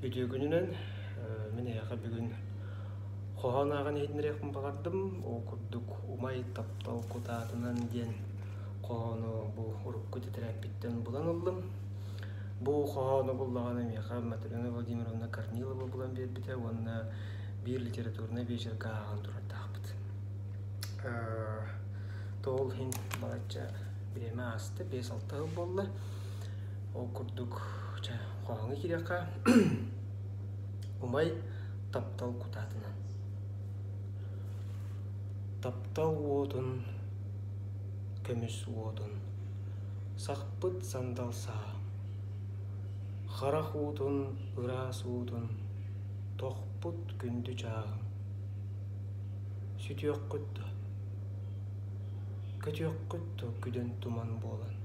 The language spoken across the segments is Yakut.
Үтүөгүнүнэн мин эһиэхэ бүгүн хоһоон ааҕан иһитиннэриэхпин баҕардым. Ол курдук «Умай таптал кутаатынан» диэн хоһоону бу урукку тэтэрээппиттэн булан ыллым. Бу хоһоону буллаҕына миэхэ Матрена Владимировна Корнилова булан биэрбитэ уонна биир литературнай биэчэргэ ааҕан турардаахпыт. Тоол иһин балачча бириэмэ ааста, биэс-алта сыл буолла. Ол курдук чэ Хоһооҥҥо киириэххэ умай таптал кутаатынан. Таптал уотун көмүс уотун сахпыт сандал саа. Харах уутун ыраас уутун тохпут күндү чааҕым. Сүтүөххүт да, көтүөххүт да күдэн туман буолан.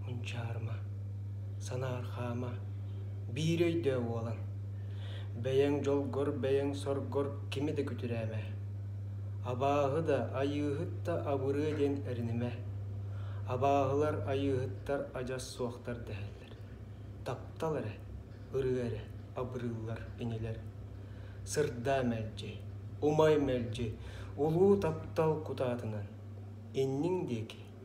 Мунчаарыма, санаархаама, биир өйдөө уолан, бэйэҥ дьолгор-бэйэҥ-соргор кими да күтүрээмэ, абааһы да, айыыһыт да абырыа диэн эринимэ, абааһылар айыыһыттар адьас суохтар дэһэллэр, таптал эрэ, ырыа эрэ абырыыллар инилэр, сырдаа мэлдьи, умай мэлдьи, улуу таптал кутаатынан, инниҥ диэки